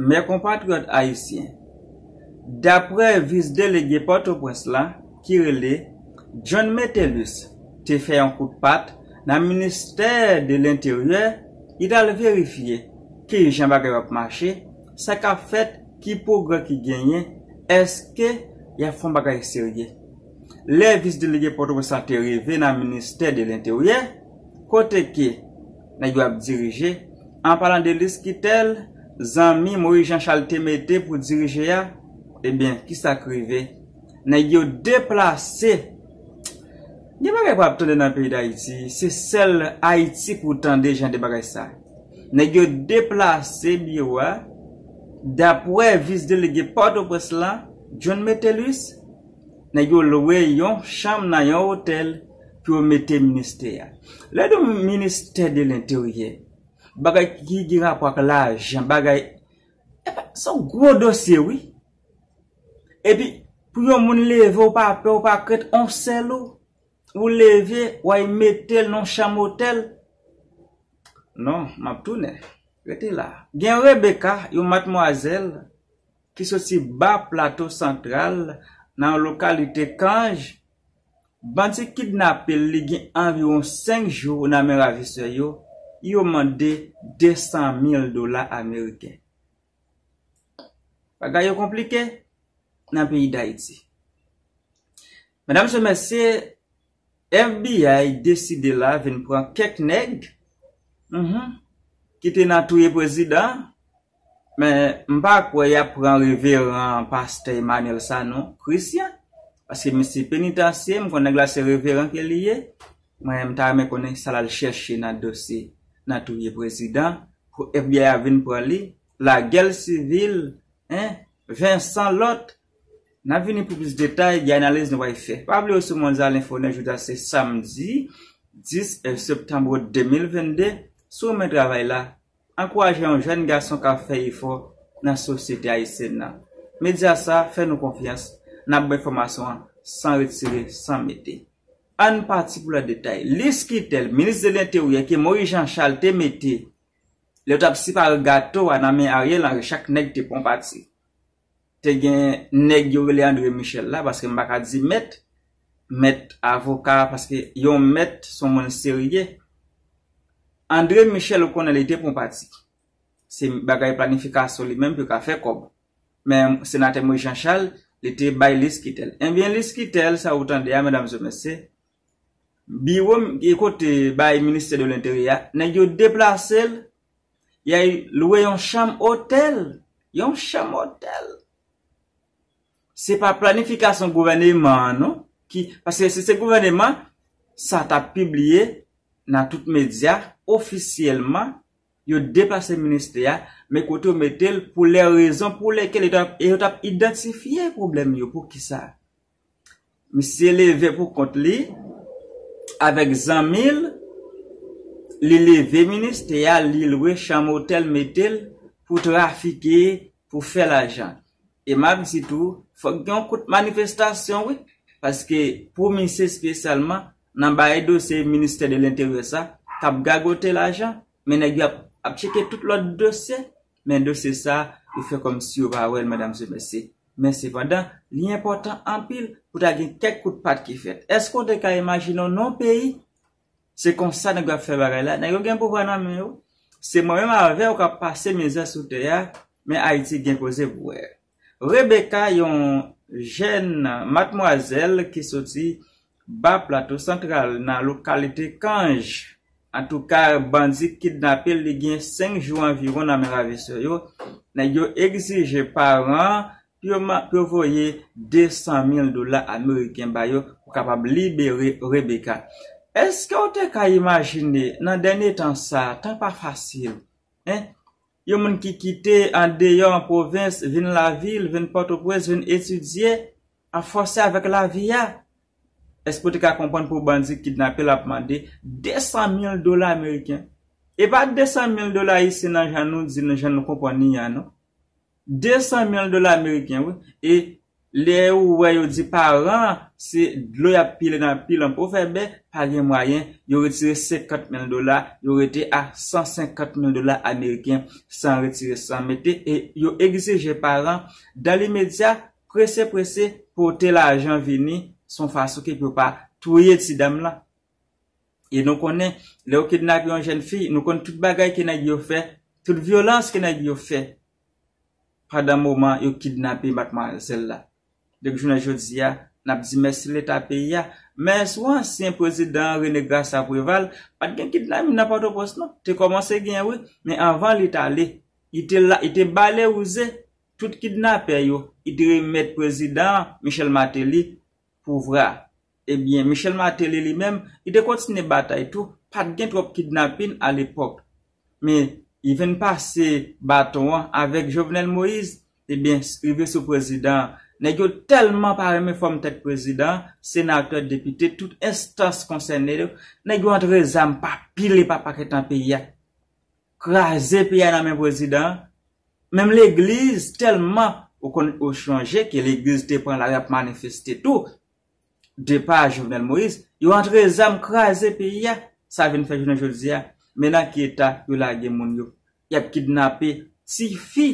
Mè konpatriyòt ayisyen, daprè vis delege Pòtoprens la ki rele John Metellus te fè yon kout pat nan ministè de lenteryè li t al verifye kijan bagay yo ap mache, sa k ap fèt, ki pwogrè ki genyen, èske y ap fè yon bagay serye. Lè vis delege Pòtoprens la te rive nan ministè de lenteryè, kote ke. Nèg yo ap dirije, an palan de lis ki tèl zanmi Moyiz Jan Chal te mete pou dirije a, ebyen ki sa k rive? Nèg yo deplase! Gen bagay pa ap tande nan peyi Dayiti, se sèl Ayiti pou w tande jan de bagay sa. Nèg yo deplase biwo a, dapwè vis delege Pòtoprens lan, John Metellus, nèg yo lwe yon chanm nan yon otèl, pou yo mete ministè a. Lè yo di yon ministè de lenteryè, bagay ki gen rapò ak lajan, bagay, epa, se yon gwo dosye wi. Epi, pou yon moun leve ou pa pè, ou pa krent, yon sèl ou, ou leve, ou al mete l nan yon chanm otèl. Non, m ap tounen. Rete la. Gen Rebecca, yon matmwazèl, ki soti ba plato santral, nan yon lokalite Cange, Bandi kidnape l li gen anviwon 5 jou nan men ravisè yo, yo mande 200 mil dola ameriken. Bagay yo konplike nan peyi Dayiti. Medam se mesye, FBI deside la vin pran kèk nèg, ki te nan touye prezidan, Men m pa kwè yap pran reveran pastè Emmanuel Sanon Christian paske misye penitansye m konn nèg la se reveran ke li ye mwen m ta renmen konnen sa lal chèche nan dosye nan touye prezidan pou FBI a vin pran li lagel sivil en Vincent lòt nap vini pou plis detay gen analiz nou pral fè pa bliye w sou Monza Lenfo Nèt jodi a se samdi 10 septanbre 2022 sou men travay la. ankouraje yon jèn gason kap fè efò nan sosyete ayisyèn nan. Medya sa fè nou konfyans, nap bay enfòmasyon an san retire, san mete. Ann pati pou lòt detay. Lis kritèl minis de lenteryè ke Moyiz Jan Chal te mete lè yo tap sipare gato a nan men Aryèl Anri chak nèg te pran yon pati. Te gen nèg yo rele André Michel la, paske m pa ka di mèt, mèt avoka, paske yon mèt s on moun serye. André Michel ou konnen li te pran pati. Se bagay planifikasyon li menm pou yo ka fè kòb. Men senatè Moïse Jean Charles, li te bay lis ki tè l. Enben lis ki tè l sa ou tande a medam e mesye, biwo kote bay ministè de lenteryè a, nèg yo deplase l Yay lwe yon chanm otèl, yon chanm otèl. Se pa planifikasyon gouvèneman an non ki, paske si se gouvèneman, sa ta pibliye nan tout medya ofisyèlman, yo deplase ministè a, men kote yo mete l pou lè rezon pou lèkèl e yo t ap idantifye pwoblèm yo pou kisa. Misye leve pou kont li, avèk zanmi l, li leve ministè a, li lwe chanm otèl mete l pou trafike, pou fè lajan. E m ap di tou, fòk gen yon kout manifestasyon wi, paske pou misye espesyalman nan bay dosye ministè de lenteryè sa, k ap gagote lajan, men nèg yo ap tcheke tout lòt dosye, Men dosye sa yo fè kòm si yo pa wè l Madam Sébastien. Men sepandan, li enpòtan anpil pou ta gen kèk kout pat ki fèt. Èske w te ka imajine w nan yon peyi, se konsa nèg yo ap fè bagay la, nèg yo gen pouvwa nan men yo, se mwen menm avè w k ap pase mizè sou tè a, men Ayiti gen koze pou wè. Rebecca yon jèn matmwazèl ki soti Ba Plato Santral nan lokalite Kanj. Antouka bandi kidnape l li gen 5 jou anviwon nan men ravisè yo. Nèg yo egzije paran pou yo voye 200 mil dola ameriken ba yo pou kapab libere Rebecca. Eske w te ka imajine nan dènye tan sa, tan pa fasil, hein? Yon moun ki kite an deyò an pwovens vin lavil, vin Pòtoprens, vin etidye, ap fòse avèk lavi a. Èske ou te ka konprann pou bandi kidnape l ap mande 200 mil dola ameriken? E pa 200 mil dola ayisyen nan jan nou di, nan jan nou konprann li an non. 200 mil dola ameriken wi. E Lè ou wè yo di paran an se dlo y ap pile nan pi lanp ou fè bè, pa gen mwayen, yo retire 50 mil dola, yo rete a 150 mil dola ameriken san retire san mete e yo egzije paran dan limedya prese prese pote lajan vini son fason ke pou yo pa touye ti dam lan. E nou konnen lè yo kidnape yon jèn fi nou konn tout bagay ke nèg yo fè, tout vyolans ke nèg yo fè pandan moman yo kidnape matmwazèl la. Dèk jounen jodi a, n ap di mèsi Leta peyi a, men sou ansyen prezidan René Graça Préval, pa t gen kidnapping nan Pòtoprens non. Te kòmanse gen wi, men anvan li t ale, li te la, li te bale wouze tout kidnapè yo, li te remèt prezidan an, Michel Martelly, pouvra. Ebyen Michel Martelly li menm, li te kontinye batay tou, pat gen twòp kidnapin a lepòk. Men, li vin pase baton an avèk Jovenel Moïse, ebyen rive sou prezidan an. Nèg yo tèlman pa renmen fòm tèt prezidan an, senatè, depite, tout enstans konsène yo, nèg yo antre zam pa pil e pa pakèt nan peyi a. Kraze peyi a nan men prezidan an. Menm legliz tèlman, ou konn, ou chonje ke legliz te pran lari ap manifeste tou, depa Jovenel Moïse, yo antre zam kraze peyi a, sa vin fè jounen jodi a, men nan ki eta yo lage moun yo, y ap kidnape ti fi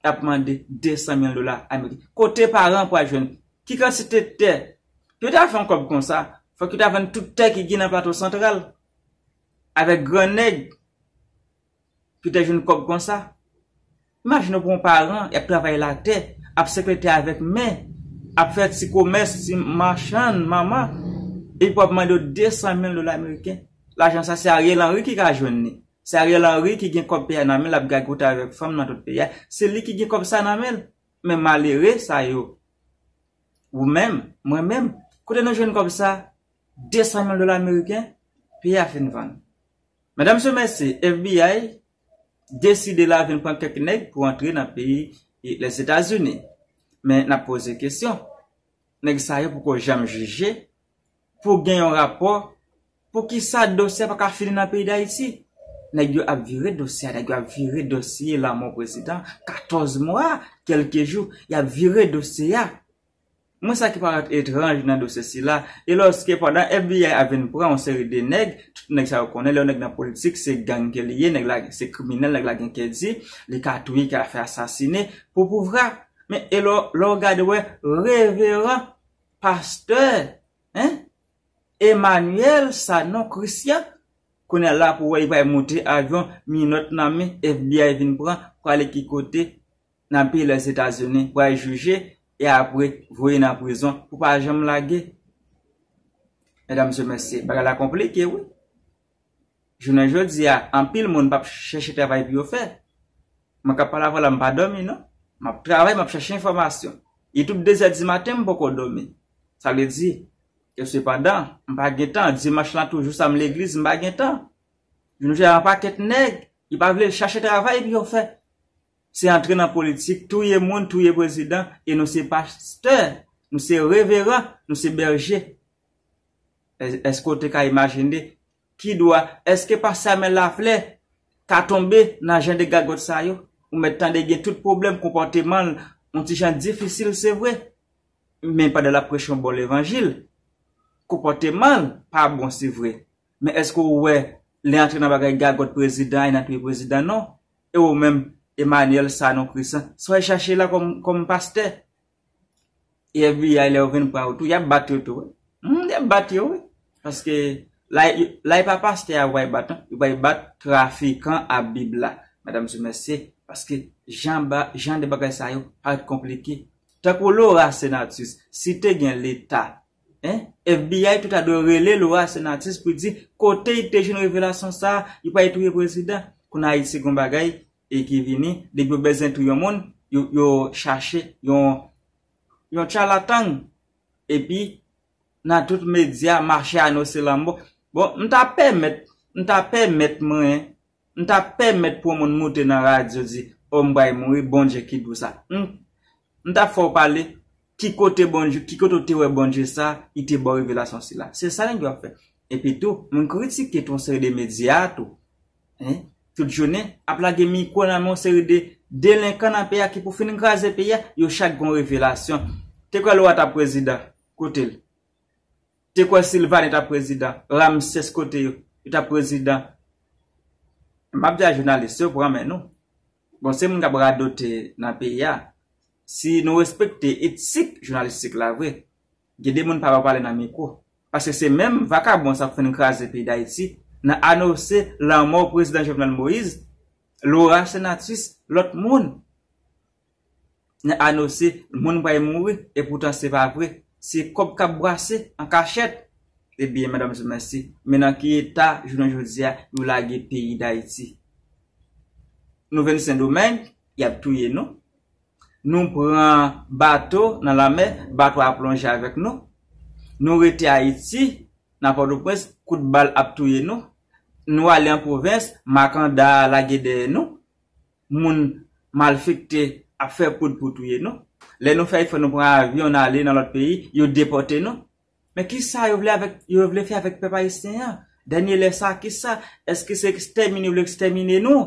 k ap mande 200 mil dola ameriken. Kote paran an pral jwenn? Ki kantite tè? Pou yo ta fè yon kòb konsa, fòk yo ta vann tout tè ki gen nan Plato Santral avèk gran nèg. Yo te jwenn kòb konsa. Imajine pou yon paran, y ap travay latè, ap sepe tè avèk men, ap fè ti komès, ti machann manman, epi pou ap mande yo 200 mil dola meriken. Lajan sa, se Ariel Henry ki ka jwenn li. Se Ariel Henry ki gen kòb peyi a nan men l ap gagote avèk fanm nan tout peyi a. Se li ki gen kòb sa nan men l. Men malere sa yo, ou menm, mwen menm, kote nou jwenn kòb sa? 200 mil dola meriken? Peyi a fin vann. Madame se mèsi FBI deside la vin pran kèk nèg pou antre nan peyi Lèzetazini. Men nap poze kesyon, nèg sa yo poko janm jije pou gen yon rapò pou kisa dosye a pa ka fini nan peyi Dayiti? Nèg yo ap vire dosye a, nèg yo ap vire dosye lanmò prezidan 14 mwa kèlke jou, yap vire dosye a. Mwen sa ki parèt etranj nan dosye sila, e lòske pandan FBI ap vin pran yon seri de nèg, tout nèg sa yo konnen lè yon nèg nan politik se gang ke li ye, nèg la se kriminèl, nèg la gen kè di, li ka touye, li ka fè asasine pou pouvra. Men e lò, lè w gade wè reveran pastè hein Emmanuel Sanon Christian, kounye a la pou wè li pral moute avyon, minòt nan men, FBI vin pran, prale ki kote? nan peyi Lèzetazini pral jije e apre voye nan prizon pou pa janm lage. Medam se mesye, bagay la konplike wi. Jounen jodi a, anpil moun pap chèche travay pou yo fè. Mwen kap pale avèw la m pa dòmi non. Map travay, map chèche enfòmasyon. Youtube dezè di maten m poko dòmi. Sa vle di, ke sepandan, m pa gen tan, dimanch lan tou jou sa m legliz m pa gen tan. Jounen jodi a yon pakèt nèg, yo pa vle chache travay pou yo fè. Se antre nan politik, touye moun, touye prezidan, e nou se pastè, nou se reveran, nou se bèje. Eske ou te ka imajine ki dwa, eske pa Samuel Laflè ka tonbe nan jan de gagòt sa yo? Ou mèt tande gen tout pwoblèm konpòteman l, yon ti jan difisil se vre, men pandan l ap preche yon bon levanjil, konpòteman l pa bon se vre. Men eske ou wè li antre nan bagay gagòt prezidan e nan piye prezidan non e ou menm Emmanuel Sanon Chrisan sa w al chache la kòm pastè e FBI lè yo vin pran ou tou y ap bat yo tou wi humm y ap bat yo wi paske la e pa pastè a yo pral bat non yo pral bat trafikan a bib la medam sou mesye paske jan de bagay sa yo pa konplike tankou Laura Senatus si te gen leta FBI tout a dwe rele Laura Senatus pou di kote li te jwenn revelasyon sa, yo pa itouye prezidan. Kounye a Ayiti gen yon bagay ki vini, depi yo bezwen touye yon moun, yo chache yon chalatang epi nan tout medya mache anonse lanmò. Bon, m ta pèmèt, m ta pèmèt mwen M ta pèmèt pou yon moun moute nan radyo di oh m pral mouri Bondye ki di w sa humm m ta fè w pale ki kote Bondye ki kote w te wè Bondye sa ki te ba w revelasyon sila se sa nèg yo ap fè epi tou moun kritike tou yon seri de medya tou hein tout jounen ap lage mikwo nan men yon seri de delenkan nan peyi a ki pou fin kraze peyi a yo chak gen yon revelasyon te kwè lora ta prezidan kote l. Te kwè Sylvane tap prezidan. Ramses kote yo. Yo tap prezidan. Map di a jounalis yo pran men nou. Bon se moun kap radote nan peyi a. Si nou respekte etik jounalistik la vre. Gen de moun pa pa pale nan mikwo. Paske se menm vakabon sa k fin kraze peyi Dayiti nan anose lanmò prezidan Jovenel Moïse, Laura Senatus, lòt moun. nan anose moun pral mouri epoutan se pa vre se kòb kap brase an kachèt ebyen madam sou mèsi men nan ki eta jounen jodia yo lage peyi dayiti nou vin sendomeng yap touye nou nou pran bato nan lanmè bato a plonje avèk nou nou rete ayiti nan pòtoprens kout bal ap touye nou nou ale an pwovens makanda lage dèyè nou. moun malfekte ap fè poud pou touye nou. Lè nou fè efò nou pran avyon n ale nan lòt peyi, yo depòte nou. Men kisa yo vle avèk, yo vle fè avèk pèp ayisyen an? Dènye lè sa a kisa? Eske se ekstèmine yo vle ekstèmine nou?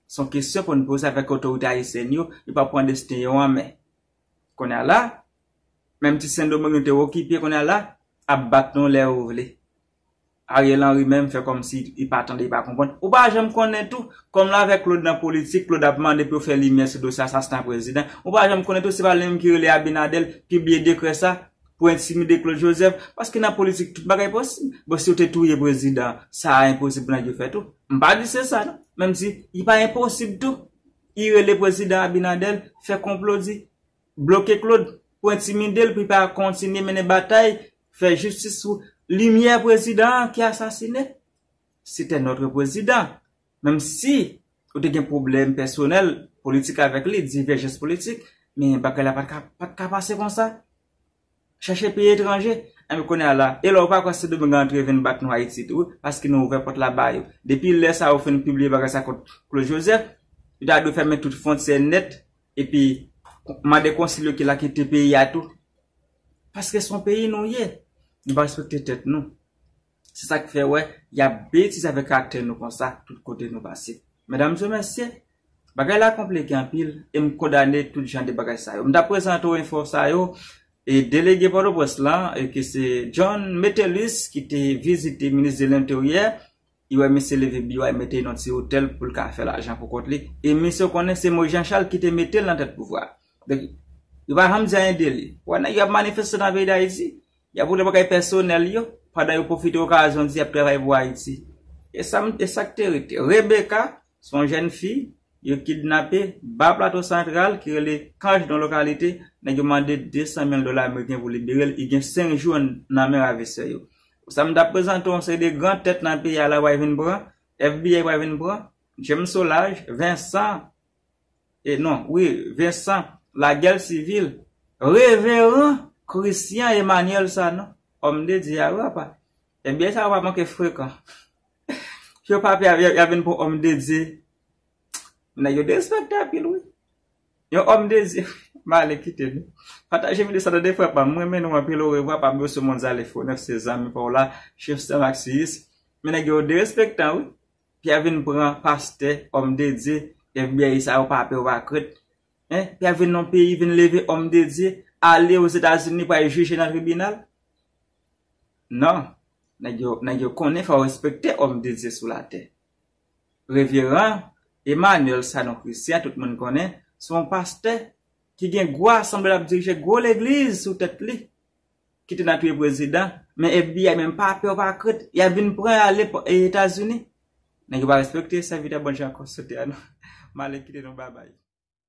S on kesyon pou n poze avèk otorite ayisyèn yo, yo pa pran desten yo an men. Kounye a la, menm ti Sendomeng nou te okipe kounye a la, ap bat nou lè yo vle. Ariel Henry menm fè kòmsi li pa tande li pa konprann. Ou pa janm konnen tou, kòm l avè Claude nan politik, Claude ap mande pou yo fè limyè sou dosye asasina prezidan, ou pa janm konnen tou se pa li menm ki rele Abinader pibliye dekrè sa pou entimide Claude Joseph, paske nan politik tout bagay posib. Bon si yo te touye prezidan, sa a enposib pou nèg yo fè tou? M pa di se sa non, men m di li pa enposib tou li rele prezidan Abinader fè konplo di. Bloke Claude pou entimide l pou li pa kontinye mennen batay fè jistis sou limyè prezidan an ki asasine. Sete notre prezidan. Menm si ou te gen pwoblèm pèsonèl politik avèk li, divèjans politik, men bagay la pa t ka pase konsa. Chache peyi etranje Enben kounye a la E lè ou pa kwè sendomeng a antre vin bat nou ayiti tou wi paske nou ouvè pòt la ba yo depi lè sa ou fin pibliye bagay sa kont Claude Joseph yo ta dwe fèmen tout fontyè nèt epi mande konsil yo ki la kite peyi a tou paske son peyi nou ye nou pa respekte tèt nou. Se sak fè wè yap betize avèk aktè nou konsa tout kote nou pase. Medam zyo mesye, bagay la konplike anpil e m kondane tout jan de bagay sa yo. M tap prezante w enfo sa yo e delege Pòtoprens lan e ke se John Metellus ki te vizite minis de lenteryè, li wè misye leve biwo a e mete nan ti otèl pou l ka fè lajan pou kont li e misye konnen se Moïse Jean Charles ki te mete l nan tèt pouvwa. Donk yo pa janm di anyen de li. Wè nèg yo ap manifeste nan peyi Dayiti. Y ap woule bagay pèsonèl yo, pandan yo pwofite okazyon di y ap travay pou Ayiti. E sa m, e sa k te rete? Rebecca, se yon jèn fi, yo kidnape, ba Plato Santral, ki rele Cange nan lokalite, nèg yo mande 200 mil dola ameriken pou libere l, li gen 5 jou nan men ravisè yo. Pou sa m t ap prezante w, yon seri de gran tèt nan peyi a la pral vin pran, FBI pral vin pran, James Saulage, Vincent, e non wi Vincent la gèl sivil. Reveran Christian Emmanuel Sanon Homme de Dieu a wi apa Ebyen sa yo pa manke frekan Yo pa pè yap vin pou Homme de Dieu Nèg yo derespekte anpil wi Yon Homme de Dieu Male kite nou Pataje video sa tande frè pam M renmen nou anpil orevwa pa bliye w sou Monzalefo 9 se zanmi paw la Chefstèm ak Siyis Men nèg yo derespektan wi Pierre vin pran pastè homme de Dieu FBI sa yo pa pè yo pa krent hein Pierre vin nan peyi vin leve homme de Dieu ale aux Etats Unis pou al jije nan tribunal nan nèg yo nèg yo konnen fò yo respekte homme de Dieu sou la tè reveran Emmanuel Sanon Christian tout moun konnen se yon pastè ki gen gwa sanble lap dirije gwo legliz sou tèt li ki te nan touye prezidan men FBI menm pa pè pa krent yap vin pran yo ale etazini nèg yo pa respekte sèvitè Bondye ankò sote a nou male kite nou babay.